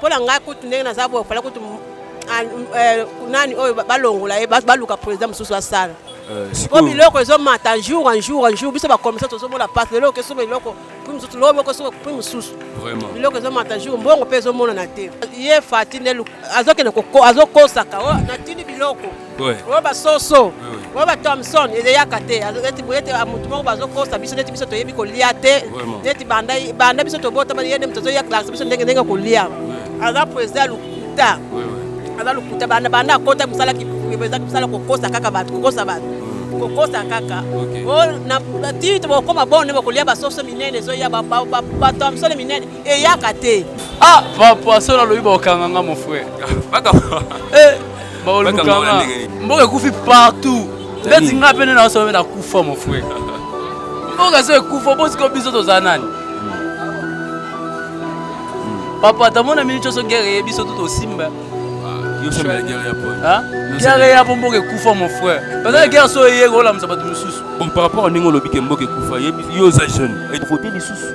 Mpo na ngai kutu ndenge naza boye fala kutu ah, eh, nani oyo balongola ye baluka président mosusu asala euh, sikoyo biloko ezomata jour en jour en jour biso bakomisa tozomona pasi lelo okesoma eloko prix mosusu lobi okesoma prix mosusu biloko ezomata jour mbongo mpe ezomonana te ye fati nde azokende azokosaka oh, natindi biloko oyo basoso oyo ba thomson ezeyaka te neti boyete motu moko bazokosa biso neti biso toyebi kolia te neti banda biso tobotama ye nde moto azoya classe biso ndenge ndenge kolia aza president ya lokuta aza lokuta banda banda akota mosala eza mosala kokosa kaka bato kokosa bato hmm. kokosa kaka ti tokokoma bone bokolia basoso minene ezoya bato ya misolo minene eyaka te ah papa soki nalobi bakokanga nga mon frère eh, bakolukanga mboka ekufi partout ndeti nga mpe nde naosoma mpe nakufa mon frère mboka so ekufa bosiko biso toza nani papa tamona mini ncoso guerre ye biso tutosimba guerre ya po mboka ekufa mon frère bazala guerre so eye kolamisa bato mosusu bon par rapport ndenge olobi ke mboka ekufa yo oza jeune evote lisusu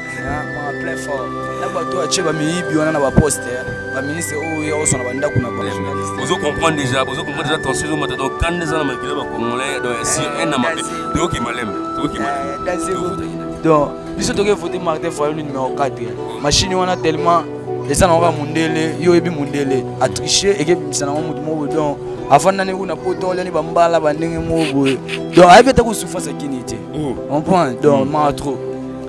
ozo comprendre déjà bozo comprendre déjà tension ezo mata donc kanda eza na makila ba congolais donc ya sur un na mabe toyoki malembe toyoki malembe donc biso toke vote martin fayulu numéro 4 machine wana tellement eza na kaka mundele yo oyebi mundele atriche ekebimisa nango motu moko donc afandani kuna poto olani bambala bandenge moko boye donc ayebi ata kosufa sakini te comprendre donc maa trop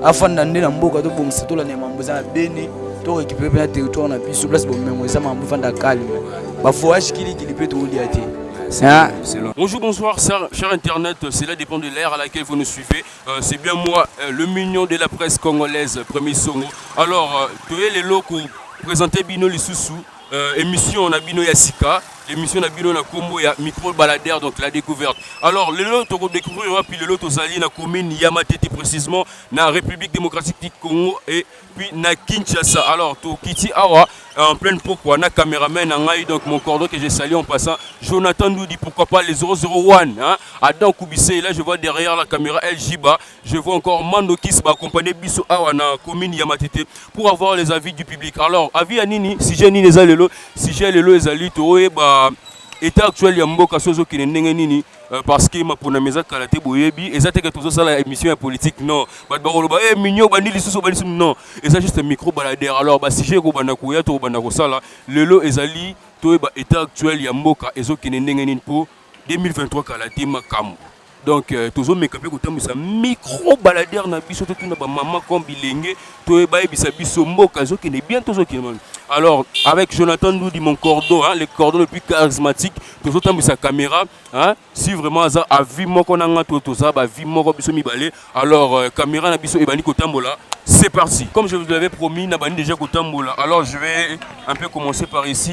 afanda nde na mboka tobongisa tolanda ya mambo eza na beni to récupéré mpe na territoire na biso place bomengo eza mambo efanda calme bavoyage kilikili mpe tokolia te Hein? Bonjour, bonsoir, cher, cher Internet. Cela dépend de l'ère à laquelle vous nous suivez. Euh, c'est bien moi, euh, le mignon de la presse congolaise, Premier Songo. Alors, euh, tu es les locaux, présentez Bino Lissousou. euh, emission na bino ya sika emission na bino na kombo ya micro baladere donc la découverte alors lelo toko découvrir wapi lelo tozali na commune ya matete précisement na république démocratique du congo et puis na kinshasa alors tokiti awa euh, en pleine pokwa na cameraman na ngai donc mon cordon que je salue en passant jonathan doudi pourquoi pas les 001 hein? adam koubise là je vois derrière la caméra ljiba Je vois encore Mandokis va accompagner Bisso Awa na commune Yamatete pour avoir les avis du public. Alors, avis à Nini, sujet Nini Zalelo, sujet Lelo Ezali, Toé, bah, état actuel ya mboka sozo kine ndenge nini euh, parce que mapona meza kala te boyebi eza te ke tozosala émission ya politique non bato bakoloba e eh, minio obandi lisusu obandi lisusu non eza juste micro balader alors basujet ekobanda koya tokobanda kosala lelo ezali toyeba état actuel ya mboka ezokende ndenge nini mpo 2023 kala te makambo donc euh, tozomeka mpe kotambwisa micro baladere na biso totuna bamama comme bilenge toye bayebisa biso mboka ezokende bien tozokende alors avec jonathan ndudi mon cordon hein, le cordon le plus charismatique tozotambwisa caméra hein, si vraiment aza avi moko na nga to toza bavi moko biso mibale alors euh, caméra na biso ebandi kotambola c'est parti comme je vous l'avais promis nabandi déjà kotambola alors je vais un peu commencer par ici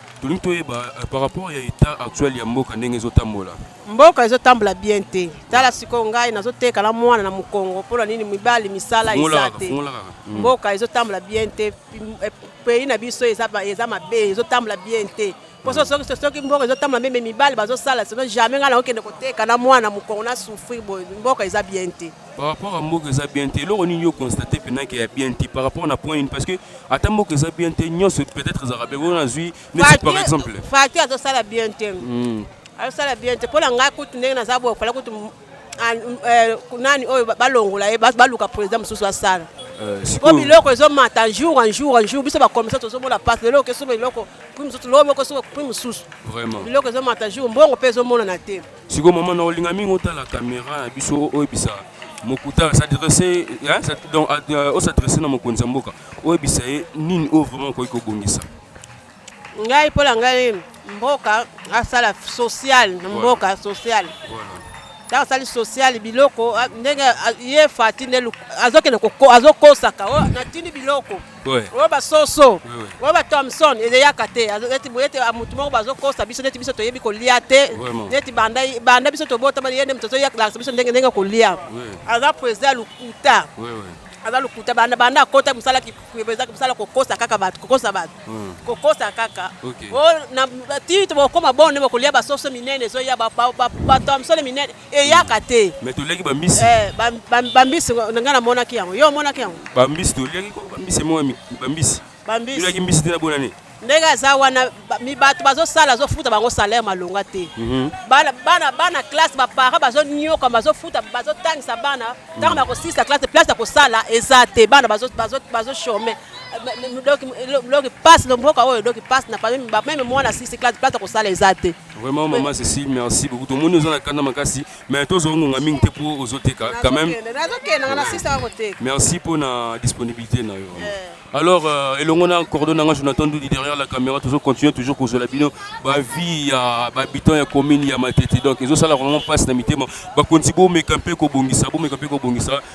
Tolingi toyeba par rapport ya etat actuel ya mboka ndenge ezotambola. Mboka ezotambola bien te. Tala sikoyo ngai nazoteka na mwana na mokongo mpo na nini mibali misala eza te. Hmm. Mboka ezotambola bien te. Eh, pays na biso eza eza mabe, ezotambola bien te. Mpo hmm. soki soki mboka ezotambola meme mibali bazosala sino jamais ngai nakokende koteka na mwana mokongo na souffrir boye mboka eza bien te. par rapport à mboka eza bien te eloko nini yo constate mpena ke ya bien te par rapport na point nini parce que ata mboka eza bien te nyonso peut-être ezalaka bien oyo nazwi neti par exemple fati azosala bien te hmm. azosala bien te mpo na ngai kutu ndenge naza boye fala kutu ah, eh, nani oyo balongola ye baluka président mosusu asala euh, po biloko ezomata jour en jour en jour biso bakomisa tozomona pasi lelo okesoba eloko prix mosusu loo moko soba prix mosusu biloko ezomata jour mbongo mpe ezomonana te Siko maman na olinga mingi otala kamera na biso oyebisa mokuta s'adresse donc euh, o s'adresse na mokonzi ya mboka oyebisa ye nini oyo vraiment okoki kobongisa ngai mpo na ngai mboka asala social na mboka social ntango asali social biloko ndenge ye fati nde azokende azokosaka oh, natindi biloko oyo basoso oyo ba thomson ezeyaka te neti boye ete motu moko bazokosa biso neti biso toyebi kolia te neti banda biso tobotama ye nde moto azoyakilakisa biso ndenge ndenge kolia aza president ya lokuta aza lokuta banda banda akota mosala eza mosala kokosa kaka bato kokosa bato hmm. kokosa kaka ti tokokoma bone bokolia basoso minene ezoya bato ya mosala minene eyaka te mais toliaki bambisi eh, bambisi na ngai namonaki yango yo omonaki yango bambisi toliaki bambisi emoko bambisi bambisi toliaki mbisi te na bonane ndenge aza wana bato bazosala azofuta bango salaire malonga te mhm. bana bana classe baparent bazonioka bazofuta bazotangisa bana mhm. ntango bakosilisa classe place ya kosala eza te bana bazochome loki mpasi lomboka oyo loki mpasi na meme mwana asisi classe place ya kosala eza te Vraiment maman Cécile merci beaucoup tomoni oza na kanda makasi mais tozwa ngonga mingi te mpo ozoteka quand même merci mpo na disponibilité na yo eh. alors euh, elongo na cordon nanga jonathan ndudi derrière la caméra tozo continue toujours kozwela bino bavie ya bahabitant ya commune ya matete donc ezosala vraiment mpasi na mitema bakonzi bomeka mpe kobongisa bomeka mpe kobongisa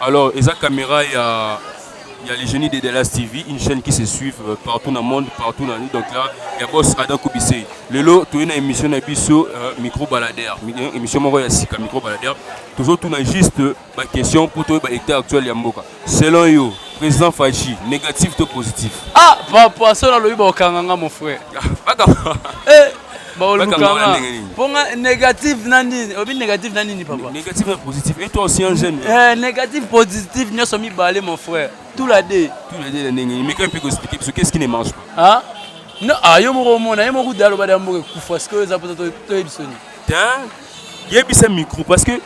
Alors, eza caméra ya ya les génies de Dallas TV, une chaîne qui se suit euh, partout dans le monde, partout dans donc là, ya boss Adam Koubissé. Lelo tu es na émission na biso euh, micro baladeur, euh, émission moko ya sika micro baladeur. Toujours tout na juste euh, ba question pour toi ba état actuel ya mboka. Selon yo, président Fachi, négatif ou positif Ah, papa, ça là le ibo kanganga mon frère. Baka. Eh bolukanga mpo nga négatif na nini obi négatif na nini papa négatif na positif et toi aussi un jeune eh, négatif positif nyonso mibale mon frère tout la deux tout la deux na ndenge mais quand piko expliquer biso qu'est-ce qui ne marche pas ah non ah yo moko omona yo moko dalo bada mboka kufa sikoyo eza mposa toyebisa nini tin yebisa micro parce que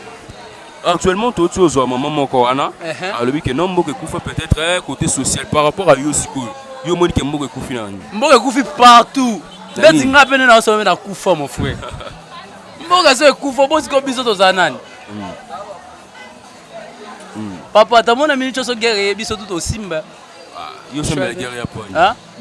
actuellement toti ozwa mama moko wana uh-huh. alobi ke no mboka ekufa peut-être eh, côté social par rapport à yo sikoyo yo omoni ke mboka ekufi na nani mboka ekufi partout ndeti nga pene na osolobe na kufa mon frère mboka so ekufa bosiko biso tozala nani hmm. Hmm. papa ata mona mini ncoso guerre eye biso tu tosimba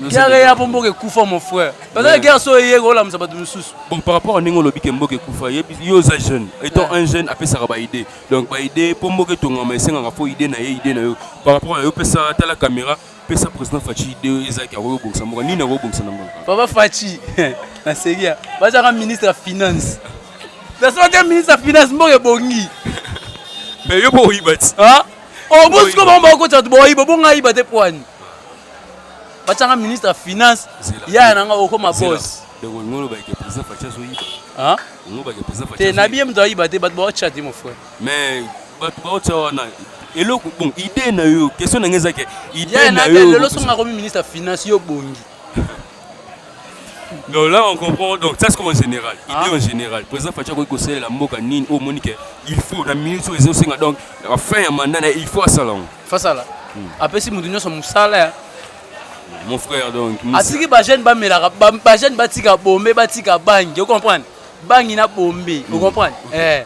guerre eya mpo mboka ekufa mon frère pezala guerre so eye kolamusa bato mosusu bon par rapport a ndenge olobi ke mboka ekufa yo oza jeune étant un jeune apesaka baidée donc baidée mpo mboka etongama esengaka fo idée na ye idée na yo par rapport a yo pesa tala caméra pesa président faci idée oyo ezalaki akoki kobongisa mboka nini akoki kobongisa na mboka papa faci na seria bazalaka ministre ya finance nasoki ministre ya finance mboka ebongi mais yo mpo oyiba ti obosiko oh, bango bakokotisa bato boyiba oh, bonga ayiba te mpo ani batyanga ministre ya finance yaya na nga okoma bos te nabiye moto ayiba te bato baotya te mon frère mais bato baotya wana eloko bon idée na yo question na ngai ezake idée na yo lelo songa komi ministre ya finance yo bongi donc là on comprend donc ça c'est comme en général ah. idée en général président faci akoki kosalela mboka nini oyo omoni ke il faut na minute oyo ezosenga donc na fin ya manda na il faut asala yango fasala hmm. apesi moto nyonso mosala ya mon frère donc atiki bajeune bamelaka bajeune batika bombe batika bangi ocomprendre bangi na bombe ocomprendre hmm. eh.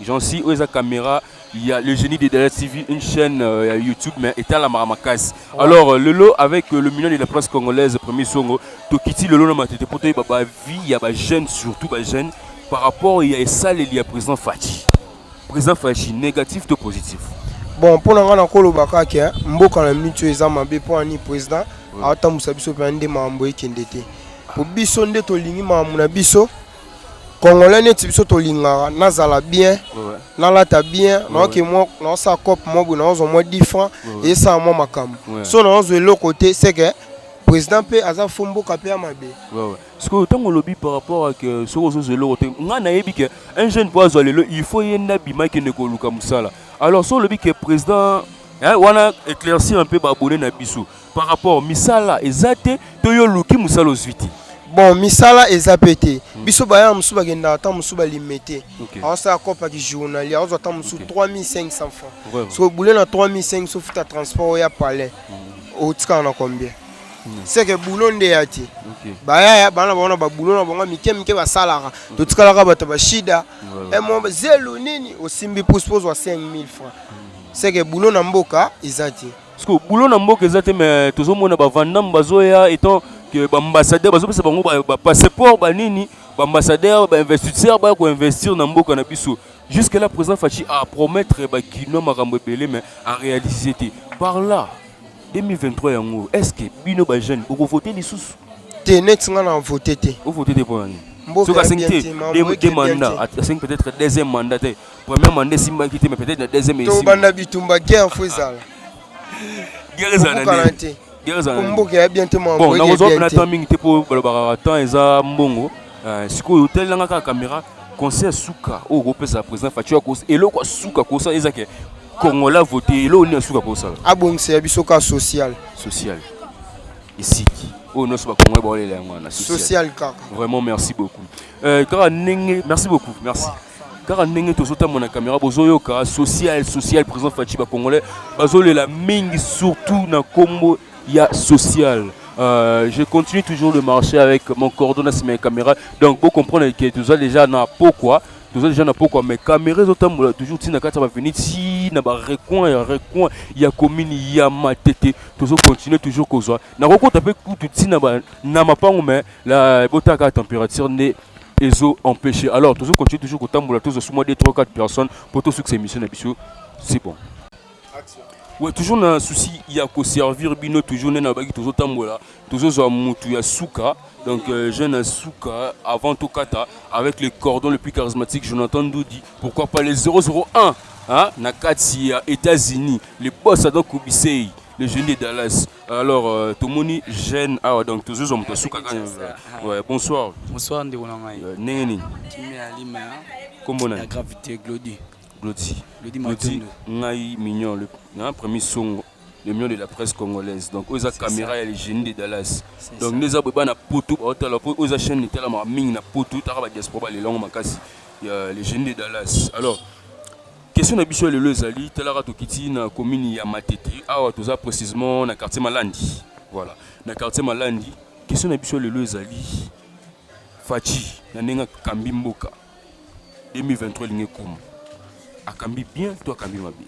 Jeancy oyo eza camera ya le génie de Dada TV une chaîne euh, ya YouTube mais etalamaka makasi ouais. alors euh, lelo avec euh, le million de la presse congolaise premier songo tokiti lelo na matete mpo toyeba bavie ya bajeune surtout bajeune par rapport ya esaleli ya président Fatshi président Fatshi négatif to positif bon mpo na ngai nakoloba kaka mboka na mitu eza mabe mpo ani président atambusa biso mpe nde makambo ekende te mpo biso nde tolingi makambo na biso congolais neti biso tolingaka nazala bien nalata bien naoke mwa naosala cope mwa boye naozwa mwa 10 franc esala mwa makambo so naozwa eloko te seke président mpe aza fo mboka mpe ya mabe sikoyo ntango olobi par rapport ake euh, soki ozozwa eloko te ngai nayebi ke un jeune mpo azwa lelo il faut ye nde abima akende koluka mosala alors so olobi ke président wana éclaircir mpe baabone na biso par rapport misala eza te to yo oluki mosala ozwi te bon misala eza pe te hmm. biso baya mosusu bakendaka ata mosusu balime te aosala kopaki journalie aozwa ata mosusu 3500 francs so bule na 3500 sofuta transport oya palais hmm. otikaka na combien hmm. seke bulo nde ya te bayaya bana bango na babulo na bango mike mike basalaka totikalaka bato ya bashida eh, zelu nini osimbi puse mpo ozwa 5000 francs seke bulo na mboka eza te Siko boulot na mboka eza te mais tozomona ba vandam bazoya étant que ba ambassadeur bazopesa bango ba, ba passeport ba nini ba ambassadeur ba investisseur baya koinvestir na mboka na biso jusque là président Fatshi a promettre ba kinois makambo ebele mais a réaliser te par là 2023 yango est-ce que bino ba jeune bokovote lisusu te neti nga na vote te ovote te mpo na nini soki asengi te deux mandat asengi peut-être deuxième mandat te Première mandat esimbaki te mais peut-être na deuxième esimba. Tobanda bitumba guerre faut ezala. Guerre ezala na nini? Guerre ezala. Mboka ya bien te mwa. Bon, na kozwa na temps mingi te po balobaka temps eza mbongo. Euh, sikoyo otalelanga kaka caméra conseil ya suka oyo okopesa président faci eloko ya suka kosala eza ke kongola vote eloko nini ya suka kosala abongisa ya biso ka social social esiki oyo nyonso bakongole baolela yango wana social kaka vraiment merci beaucoup euh, kaka ndenge merci beaucoup merci kaka ndenge tozotambona na kamera bozoyoka social social président faci bacongolais bazolela mingi surtout na nkombo ya social Euh, je continue toujours de marcher avec mon coordonnateur sur mes caméras. Donc, vous comprenez que tu as déjà na pourquoi. Tu as déjà na pourquoi. Mais caméras autant toujours si na kata venir si na ba recoin ya recoin ya commune ya matete. Tu as continuer toujours kozwa. Na roko tape kutu si na ba na mapango mais la botaka température ne ezo empêcher alors tozo continuer toujours kotambola tozo suma 2 3 4 personnes pour to succès mission na biso c'est bon action ouais toujours na souci ya ko servir bino toujours na baki tozo tambola tozo zo mutu ya suka donc euh, jeune à suka avant tout kata avec les cordons le plus charismatique Jonathan Doudi pourquoi pas les 001 hein na kati ya États-Unis les boss donc Kubisei le jeune de Dallas Alors, euh, tomoni jeune awa donc tozozo moto suka kaka. Ouais, bonsoir. Bonsoir ndeko na ngai. Euh, Ndenge nini? Kimia ya lima ya Kombo na ya gravité Glody. Glody. Glody Glody Matondo. ngai mignon le na premier songo le mignon de la presse congolaise. Donc oza caméra ya le génie de Dallas. C'est Donc ça. ndeza boba na poto ba otala po oza chaîne etala ma mingi na poto taka ba diaspora ba lelongo makasi. Ya le génie de Dallas. Alors, Question na biso ya lelo ezali talaka tokiti na commune ya Matete awa toza precisement na quartier Malandi. Voilà, na quartier Malandi. Question na biso ya lelo ezali Fatshi na ndenge akambi mboka 2023 lingi ekoma. Akambi bien to akambi mabe?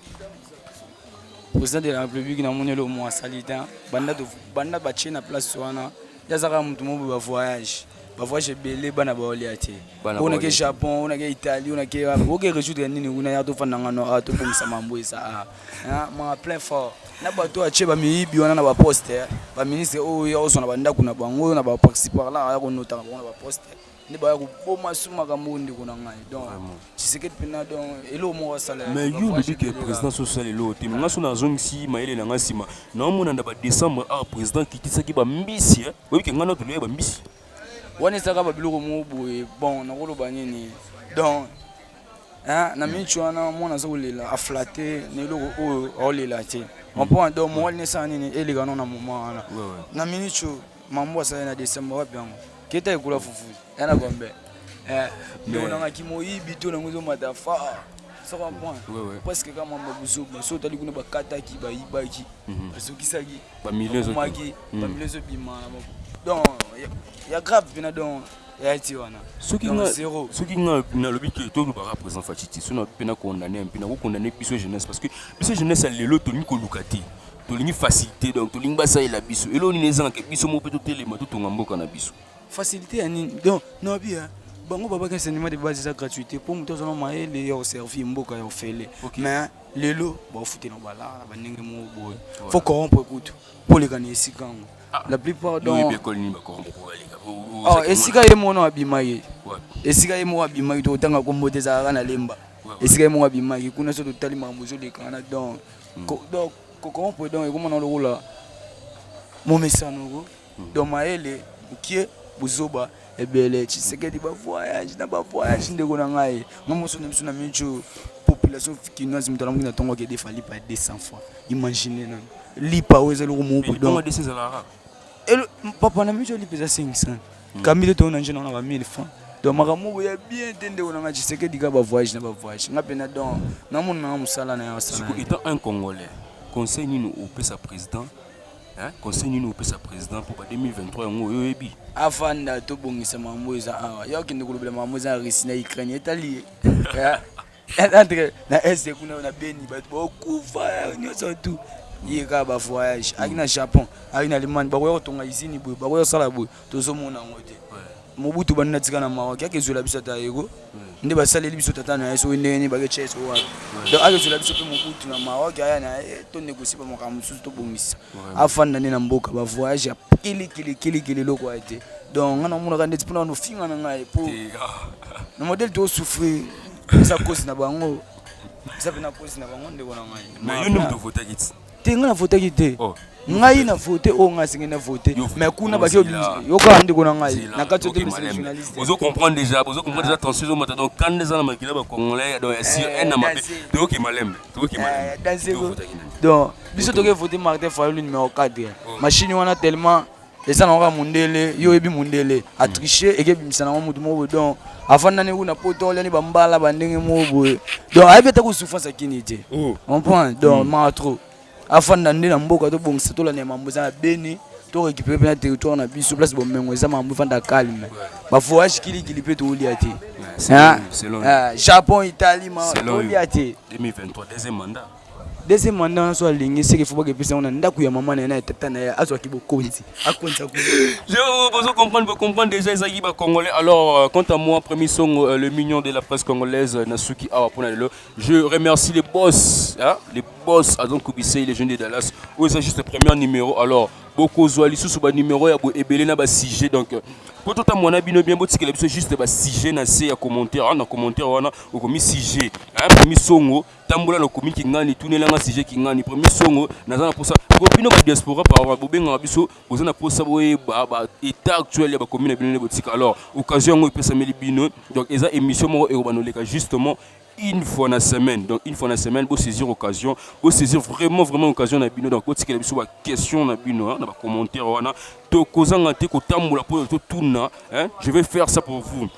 President de la République na moni eloko mwa sali te banda banda ba na place wana yazaka mutu mobu ba voyage ba voyage ebele bana ba olia te ona ke Japon ona ke Italie ona ke bo ke résoudre nini kuna ya to fanda ngano a to pemisa mambo esa a na ma plein fort na bato atie ba miyibi wana na ba poste ba ministre oyo ya osona ba ndako na bango na ba participar là ya ko nota na bango na ba poste nde baya koboma su makambo oyo ndeko na ngai donc tshisekedi mpena donc eloko moko asala mais yo olobi ke président so osala eloko te nga so nazongisi mayele na nga nsima naomona na badécembre awa président kitisaki bambisi eh? oyebi ke ngai na tolei bambisi wana ezaka babiloko moko boye bon nakoloba nini donc na minci wana mwana aza kolela aflate na eloko oyo aolela te mpo ado mowali nesala nini elekano na moma wana na minci oyo Mambo asali na December wapi yango? Keta ekula fufu. Yana gombe. Eh, ndio nanga kimoyibi to nango zo mata fa. Ça va point. Ouais, ouais. Parce que kama mambo buzoba, so tali kuna bakataki, bayibaki, mhm. bazokisaki. Ba millions zo. Maki, ba mhm. millions zo bima. Donc, il y a grave pena donc ya ti wana soki nga zero soki nga nalobi ke to lobaka présent fatiti so na pena condamner mpe na ko condamner biso jeunesse parce que biso jeunesse ya lelo toni koluka te tolingi facilité donc tolingi basalela biso eloo nini ezanga ke biso moko mpe totelema totonga mboka na biso facilité ya nini donc nabi hein, bango babaki enseignement de base eza gratuité mpo moto azana mayele ya oservir mboka ya ofele okay. mais lelo baofutela balaa na bandenge moko boye voilà. fo corrompre kutu mpo oleka na esika yango ah. la plupart donc école nini bacorrompre mpo baleka oh, esika ye mono abima ye esika ye moko abima ye tokotanga kombo te ezalaka na lemba esika ye moko abimaki kuna so totali makambo ezolekana donc donc comment peut donc ekomona lokola momesano ko hmm. donc mayele mokie buzoba ebele tshisekedi bavoyage na bavoyage ndeko na ngai nga moso na biso na mico population kinoise moto alamuki na ntongo akede fali pa 200 fois imagine nano lipa oyo ezali komobudon papa na mico lipa eza 500 Kambi te tona njena na ba 1000 francs. Donc makambo moko ya bien te ndeko na nga Tshisekedi ka ba voyage na ba voyage. Nga pena donc na mona na musala na ya sala. Étant un congolais, conseil nini opesa président Hein? Conseil nini opesa président pour 2023 yango oyo oyebi? Avanda tobongisa makambo eza awa. Yo akende kolobela makambo eza na Russie na Ukraine etali ye. entre na este kuna na beni bato baokufa nyonso tout ye kaka ba voyage aki na japon aki na allemagne bakoya kotonga izini boye bakoya kosala boye tozomona yango te mobutu bandi na tika na maroc yaki ezwela biso ata yego nde basaleli biso tata na ye soki ndenge nini baketya ye soki wapi donc aki ezwela biso mpe mobutu na maroc aya na ye tonegosie bamakambo mosusu tobongisa afanda nde na mboka ba voyage ya kilikili kilikili eloko waye te donc ngai namonaka ndeti mpona nofinga na ngai mpo na modele tosouffrir eza kosi na bango eza pena kosi na bango ndeko na ngai mais yo nde moto votaki ti te ngai na votaki te oh, ngai na vote oyo ngai asenge na vote mais kuna baki yokaa ndeko na ngai na kati ozo comprendre déjà bozo comprendre déjà tension ezomata donc kanda eza na makila ba congolais donc ya sur eh, un na mabe toyoki malembe toyoki malembe eh, donc biso toke vote martin fayulu numéro 4 machine wana tellement eza na kaka mundele yo oyebi mundele atriche ekebimisa nango motu moko boye donc afandani kuna poto oliani bambala bandenge moko boye donc ayebi ata kosouffrance akini te oh. comprendre donc mm. maa trop afanda nde na mboka tobongisa tolanda mambo eza na beni to récupérer mpe na territoire na biso place bomengo eza mambo efanda calme bavoyage kilikili mpe toolia te ah, ah, japon italie ma toolia te 2023 deuxième mandat deuxième mandat wana so alingi seke fo bakepesa yango na ndako ya mama na ye na ya tata na ye azwaki bokonzi akonza bozo comprendre bo comprendre déjà ezalaki ba congolais alors euh, quant à moi premier songo euh, le mignon de la presse congolaise euh, na suki awa mpo na lelo je remercie les boss hein? les boss azon kubisei les jeunes de dallas oyo eza juste premier numéro alors bokozwa lisusu banimero ya boye ebele na basujet donc mpo totambola na bino bien botikela biso juste basujet na se ya commentaire wana na commentaire wana okomi sujet hein? misongo tambola na komi kingani tunela nga sujet kingani premier songo naza na posa po bino ba diaspora par bobengaka biso boza na posa boyeba ba état actuel ya bakomi na bino nde botika alors occasion yango epesameli bino donc eza émission moko ekobana oleka justement une fois na semaine donc une fois na semaine bosaisir occasion bosaisir vraiment vraiment occasion na bino donc botikela biso baquestion na bino na bacommentaire wana tokozanga te kotambola mpo totuna je vais faire ça pour vous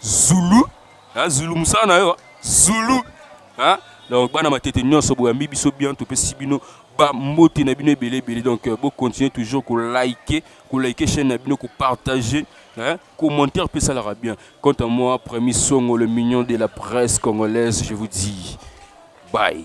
Zulu hein Zulu musala na yo Zulu hein donc bana matete nyonso boyambi biso bien topesi bino ba mbote na bino ebele ebele donc euh, bo continuer toujours ko liker ko liker chaîne na bino ko partager Hein? Commentaire peut ça l'aura bien. Quant à moi, premier songo, le mignon de la presse congolaise, je vous dis bye.